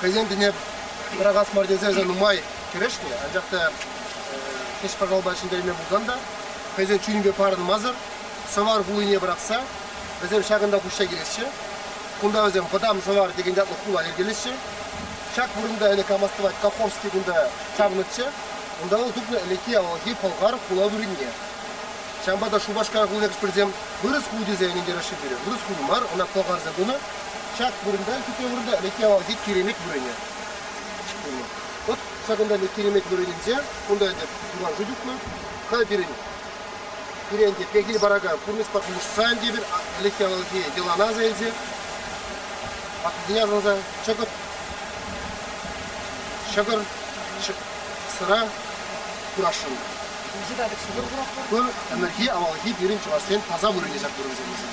хӑйсен тӗне пӑрахас мар тесе эсӗ нумай кӗрешнӗ, анчах та хӗҫ-пӑшалпа ҫӗнтерме пулсан та хӑйсен чунӗпе парӑнмасӑр сӑвар хулине пӑрахса вӗсем ҫакӑнта пуҫҫа килеҫҫӗ. Кунта вӗсем вӑтам сӑвар текен ятлӑ хула йӗркелеҫҫӗ. Ҫак вырӑнта ӗлӗк камас тӑвать Кахорский кунта чавнӑччӗ. Унта вӑл тупнӑ ӗлӗкхи авалхи пӑлхар хула вырӑнне. Ҫавӑнпа та Шупашкар хули хӗҫпӗрсем вырӑс хули тесе ӗнентереҫҫӗ пире. Вырӑс хули мар, ӑна пӑлхарсем тунӑ. Ҫак вырӑнта хитре вырӑнта ӗлӗкхи авалхи киремет вырӑнӗ. От ҫакӑнта ӗнтӗ киремет вырӑнӗнче, кунта ӗнтӗ диван шыв тухнӑ. Халь пирӗн пире ӗнтӗ пехил паракан пурнӑҫпа пулӑшсан тепӗр ӗлӗкхи авалхи йӑлана аса илсе, паккисене асӑнса чӑкӑт, ҫӑкӑр, сӑра курасшӑн. Ку ӗмӗрхи авалхи пирӗн чӑвашсен таса вырӑнӗ ҫак вырӑнсемӗсем.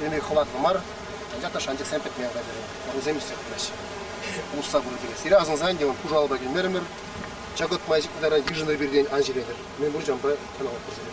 Ӗне хӑватлӑ мар, анчах та шанчӑксем пӗтме хатӗрӗ. Вӑрӑсем ӳссе пыраҫҫӗ. Усса пырать иккен. Сире асӑнсан те пушалпа килмерӗмӗр. Чӑкӑт май ытаран йышӑннӑ пиртен ан ҫӳретӗр. Мӗн пур чампа каналатпӑр сире.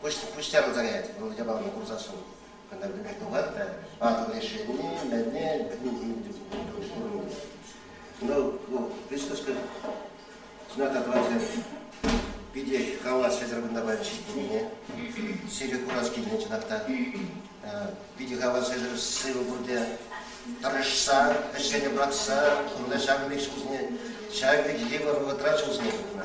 пуҫ тяпӑнса каять. Вӑл япалана курсассӑн кунта пӗтӗмпех тухать та артык решение пулни мелне пурӑнмасть. Ну, присутствие знак отвращения питӗ хавас ҫӗтӗр кунта паян ҫитнине, сире курас килнӗ чӑнах та, питӗ хавас ҫӗтӗр сывӑ пурте тӑрӑшса, ӗҫсене пӑрахса, кунта ҫавӑн пек ҫулсене, ҫавӑн пек йывӑр вӑхӑтра ҫулсене тухнӑ.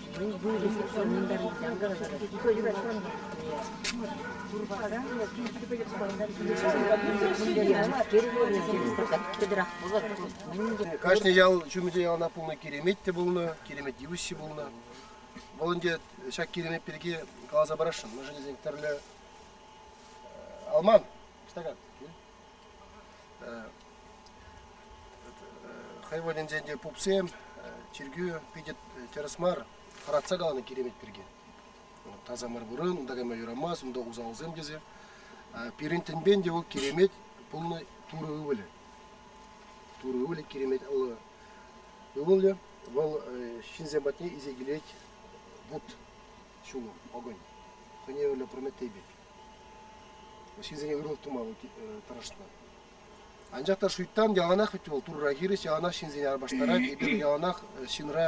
Кашни ял ҫумӗнче ялана пулнӑ киремет те пулнӑ, киремет йывӑҫҫи пулнӑ. Вӑл ӗнтӗ ҫак киремет пирки каласа парасшӑн. Мӑшӑрӗсен тӗрлӗ алман, стакан. хай валӗнчен те пупсем, чиркӳ питӗ тӗрӗс мар, хӑратса каланӑ киремет пирки. Таса мар вырӑн, унта кайма юрамасть, унта усалсем тесе. Пирӗн тӗнпен те вӑл киремет пулнӑ Турӑ ывӑлӗ. Турӑ ывӑлӗ киремет ывӑлӗ. Вӑл ҫынсем патне исе килет вут ҫулӑм, огонь. Хӑйне евӗрлӗ прометей пек. ҫынсене ырӑлӑх тума вӑл тӑрӑшнӑ. Анчах та шуйттан яланах вӗт вӑл Турра хирӗҫ, яланах ҫынсене арпаштарать. Эпир яланах ҫынра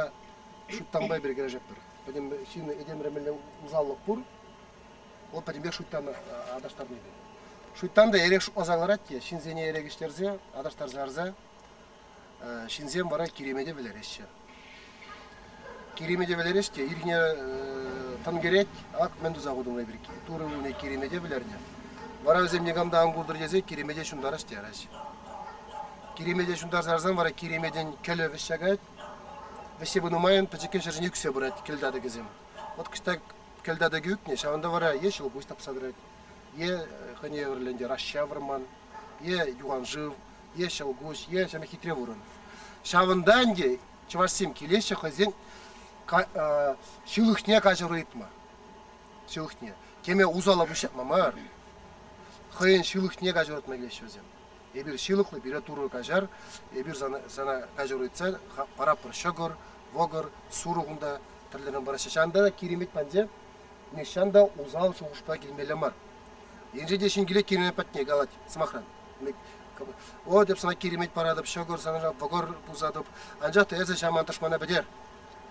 шуйттанпа эпир кӗрешетпӗр. Пӗтӗм ҫын этемре мӗнле усаллӑх пур, вӑл пӗтӗмпех шуйттана аташтарни те. Шуйттан та эрех шутласа кӑларать те ҫынсене эрех ӗҫтерсе, аташтарса ярса ҫынсем вара киремете вӗлереҫҫӗ. Киремете вӗлерес те ирхине тӑн кӗрет, ак мӗн туса хутӑмри пирки. Турӑ ывӑлне киремете вӗлернӗ. Вара вӗсем никам та ан култӑр тесе киремете ҫунтарас тераҫҫӗ. Киремете ҫунтарса ларсан вара киреметӗн кӗлӗ вӗҫҫакать. Вӗҫсе пынӑ майӑн пӗчӗккӗн ҫӗршӗне ӳксе пырать кӗлтатӑкӗсем. Вот кӑҫта кӗлтатӑкӗ ӳкнӗ, ҫавӑнта вара е ҫӑлкуҫ тапса тӑрать, е хӑйне евӗрлӗ ӗнтӗ раща вӑрман, е юхан шыв, е ҫӑл куҫ, е ҫӗнӗ хитре вырӑн. Ҫавӑнта ӗнтӗ чӑвашсем килеҫҫӗ хӑйсен ҫылӑхне каҫару ыйтма. Ҫылӑхне. Теме усала пуҫҫапма мар. Хӑйӗн ҫылӑхне каҫару ыйтма килеҫҫӗ вӗсем. Эпир ҫылӑхлӑ, пире Турӑ каҫар, эпир сана, сана каҫару ыйтса паратпӑр ҫӑкӑр, вӑкӑр, сурӑх унта тӗрлӗрен параҫҫӗ. Ҫавӑнта та Киремет паньде нихҫан та усал шухӑшпа килмелле мар. Енче те ҫын килет Киремет патне калать, сӑмахран, О, тӗп сана киремет паратӑп, ҫӑкӑр санра вӑкӑр пусатӑп. Анчах та эсӗ ҫаман тӑшмана пӗтер.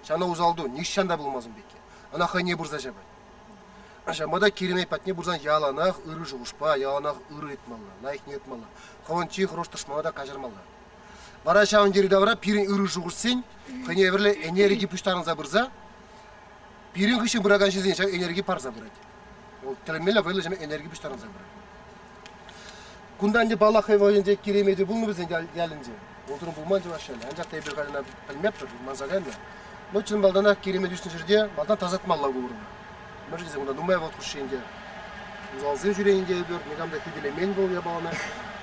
Сана усал ту, нихҫан та пулмас ун пекки. Ӑна хӑйне пырса ҫапать. Ҫавӑнпа та Киремет патне пырсан яланах ырӑ шухӑшпа, яланах ырӑ ыйтмалла, лайӑхне ыйтмалла. Хӑвӑн чи хӑрушӑ тӑшмана та каҫармалла. Вара ҫавӑн йӗри-тавра пирӗн ырӑ шухӑшсен хӑйне евӗрлӗ энерги пуҫтарӑнса пырса пирӗн хыҫҫӑн пыракан ҫынсен ҫак энерги парса пырать. Вӑл тӗрмелле вӑйлӑ ҫӗме энерги пуҫтарӑнса пырать. Кунта ӗнтӗ паллах хӑй вӑйӗнче Киремети пулнӑ вӗсен ялӗнче. Унсӑрӑн пулман чӑваш ялӗ. Анчах та эпир халина пӗлмеппӗр, манса кайнӑ. Но чӑн малтанах Киремет ӳснӗ ҫӗрте малтан тасатмалла ку вырӑна. Мӗншӗн тесен кунта нумай вӑл хушши ӗнтӗ усалсем ҫӳренӗ те эпир никам та хӳтӗлемен вӑл япалана.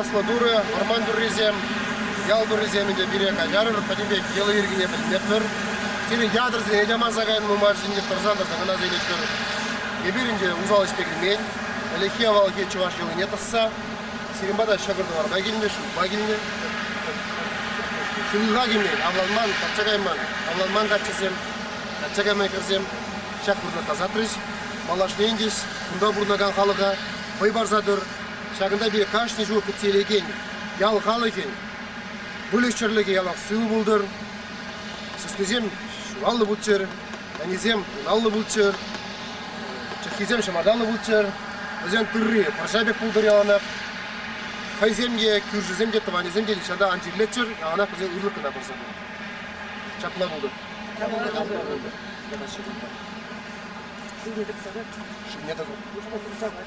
Яслӑ турӑ, арман туррисем, ял туррисем те пире каҫарӑр, пӗтӗм пек йӑли-йӗркине пӗлместпӗр. Сирӗн ятӑр сире яманса кайнӑ май ҫинче тӑрса-тӑрса кӑна сӳйлетпӗр. Эпир ӗнтӗ усал ӗҫпе килмен. Ӗлӗкхи авалхи чӑваш йӑлине тӑсса сирӗн пата ҫӑкӑр-тӑварпа килнӗ, шывпа килнӗ. Ҫулха килмен, авланман, качча кайман. Авланман каччӑсем, качча кайма хӗрсем ҫак вырӑна тасатрӗҫ. Малашне ӗнтӗ кунта пурӑнакан халӑха вӑй парса тӑр. Ҫакӑнта пире кашни ҫул кӗтсе илекен ял халӑхӗн выльӑх-чӗрлӗхе ялах сывӑ пултӑр. Сыснисем ҫуралнӑ путсӗр. ӗнисем ыталлӑ пулччӑр, чӑххисем ҫӑмарталлӑ пулччӑр. Вӗсен тырри пӑрҫа пек пултӑр яланах. Хӑйсем те, кӳршӗсем те, тӑванӗсем те нихҫан ан чирлеччӗр, яланах вӗсен ырлӑх кӑна пырса пулӗ. Ҫапла пултӑр. Шывне тӑкса тӑр. Шывне тӑкӑр. Шывне тӑкса тӑр.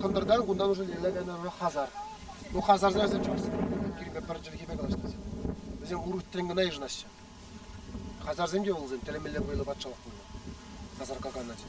Кӑнтӑртан кунтан ӑшӑ лейле кайнӑ хазар. Ну хазарсем вӗсем чӑвашсем. Кирпе пӗр чӗлхепе калаҫнӑ Вӗсем урутрен кӑна йышӑнаҫҫӗ. Хазарсем те вӑл тӗлӗмелле вӑйлӑ патшалӑх пулнӑ. Хазар какан ачи.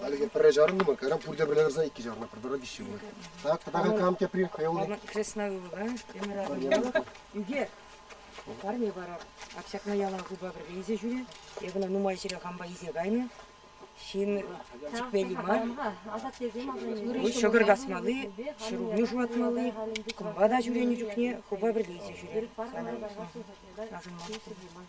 Хальлӗхе пӗрре чарӑннӑ-мӑн, кайра пурте пӗрле тӑрса иккӗ чарнӑ, пӗр тара виҫҫе пулать. Так, пӗтӗрен кам тепри хӑйуллӑ. Кресна ывӑла, Эмира Ӳкер, парне пара. Ак ҫакна ялан хупа пӗрле илсе ҫӳре. Эп ӑна нумай ҫӗре хампа илсе кайнӑ. Ҫын чикмелли мар. Вӑл ҫӑкӑр касмалли, ҫӗрулми шуратмалли, кӑмпа та ҫӳренӗ чухне хупа пӗрле илсе ҫӳре. Санӑн мар.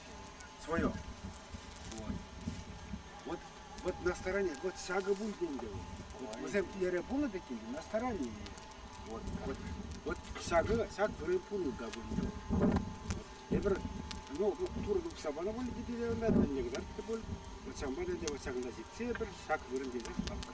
Свое. Вот. Вот, вот на стороне, вот сага будет ӗнтӗ. Вот, вӗсем эре пулнӑ тек ӗнтӗ, на стороне. Вот, вот, вот сага, саг вырӑн пулнӑ да будет. Эпир, ну, ну, туры сабана боль дедеренде тенегдер те бол, вот самбада де вот сагында зитсе эпир саг вырын дедер лапка.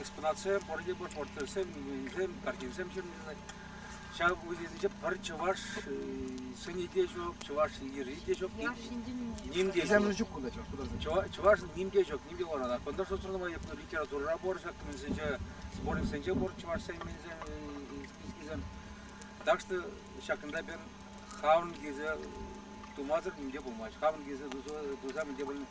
экспонатсем, пор портретсем, минуенсем, картинсем ҫырӑнчӗҫ. Ҫав уйсенче пӗр чӑваш сӗнӗ те ҫук, чӑваш йӗри те ҫук. Ним те ҫук. Чӑваш ним те ҫук, ним те вара. Кунта шусӑрлама май литературӑра пур ҫак минсенче, сборниксенче пур чӑвашсен минсен. Так что ҫакӑнта пен хавӑн килсе тумасӑр нимте пулмасть. Хавӑн килсе туса мӗнте пулмасть.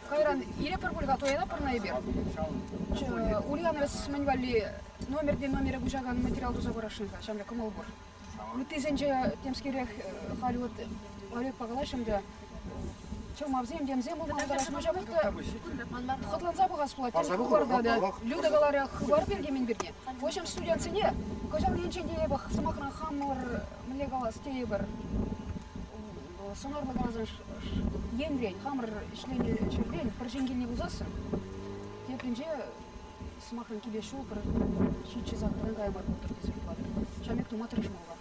Кайран илепӗр пуль-ха, туянатпӑр-на эпир. Ульяновец мӗн валли номерти номере куҫакан материал туса парасшӑн-ха, ҫамрӑк кӑмӑл пур. Ыттисенче темскерех халь вот Олегпа калаҫрӑм та, чӑлмавсем, темсем пултараҫҫӗ, куҫамӑх та хӑтланса пӑхас пулать, тем хыпарта та. Люда каларӗ хыпар пирки-мӗн пирки. Куҫӑн студентсене кӑҫал енчен тейӗпӗр, сӑмахран, хамӑр мӗнле калас тейӗпӗр, сӑнарлӑ парсан енрен, хамӑр ӗҫленӗ ҫӗртен пӗр ҫын килне пусассӑн тепринче, сӑмахран, киле ҫул пӗр ҫиччӗ сан пӗрин каямар пултӑр тесе хӑварӗ. Ҫамек тума тӑрӑшмалла.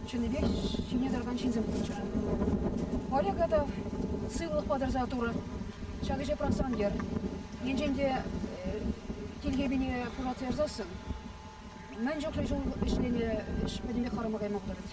Чӑннипех ҫине тӑракан ҫынсем пулччӑр. Олега та сывлӑхпа тӑрса турӑ. Ҫак ӗҫе пӑрахсан тер. Енчен те тилхепине пуратса ярсассӑн мӗн чухлӗ ҫул ӗҫленӗ ӗҫ пӗтӗмпех харама кайма пултарать.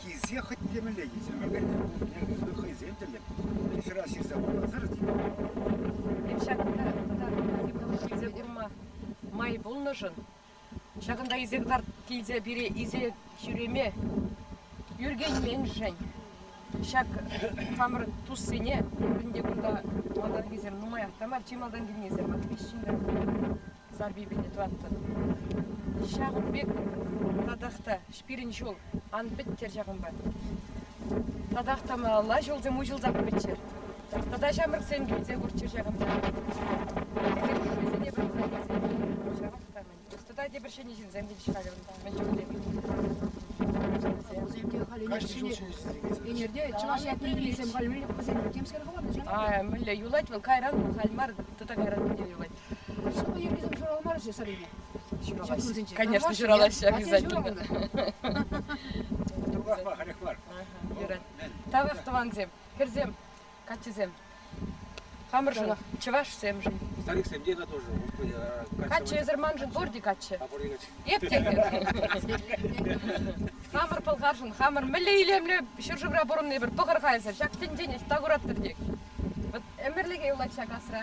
Килсе хӑть темӗнле ӳсӗмӗркӗн пулнине хӑйсем тӗллӗн ҫӑра ҫырса памасӑр килсе курма май пулнӑшӑн ҫакӑнта илсе кӑтарт килсе пире илсе ҫӳреме ӳркенменшӗн ҫак хамӑр туссене пурин те кунта малтанхисем нумаях та мар чи малтан килнисем вӑт виҫ ҫыннӑ Забибине тӑваттӑн. Ҫакӑн пек татах та пирӗн ҫул ан пӗттер ҫакӑнпа. Татах та малалла ҫулсем уҫӑлса пыччӑр. Тата ҫамрӑксем килсе курччӑр ҫакӑнта. Вӗсене пырса килсе ҫавах та мӗн. Тата те пӗр ҫӗнӗ ҫынсем те ҫыхать унта мӗн чухлӗ. Ӗнерте чӑваш ятне халь мӗнле хӑварнӑ? А мӗнле юлать вӑл кайран халь мар, тата кайран мӗнле юлать. Шӑпа йӗркисем ҫуралмарӗҫ-и Сарине? Ҫуралаҫҫӗ. Конечно, ҫуралаҫҫӗ обязательно. Туркахма халех мар. Тавах тӑвансем, хӗрсем, каччӑсем. Хамӑршӑн, чӑвашсемшӗн. Стариксем те тоже. Каччӑ эсӗр маншӑн пурте каччӑ. А пурте каччӑ. Эп те Хамӑр пӑлхаршӑн, хамӑр мӗнле илемлӗ ҫӗршывра пурӑнни пӗр пӑхӑр-ха эсӗр. Ҫак тӗнчене тавӑраттӑр тек. Вот ӗмӗрлӗхе юлать ҫак асра.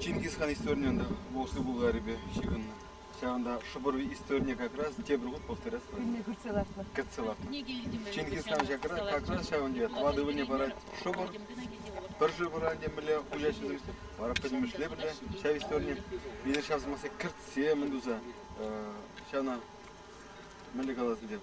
Чингис хан историйӗ ӑнта Волжск Булгарипе ҫыхӑннӑ. Ҫавӑнта шӑпӑр историйӗ как раз тепӗр хут повторяться. Кӳлне кӗртсе лартнӑ. Кӗтсе лартнӑ. Чингис хан как раз ҫавӑн тери тӑватӑ ывӑлне парать шӑпӑр. Пӗр шӑпӑра темӗнле уяҫҫи вара пӗтӗмӗшле пӗле ҫав историе. Мире ҫав сӑмахсем кӗртсе мӗн туса ҫавна мӗнле калас тетӗп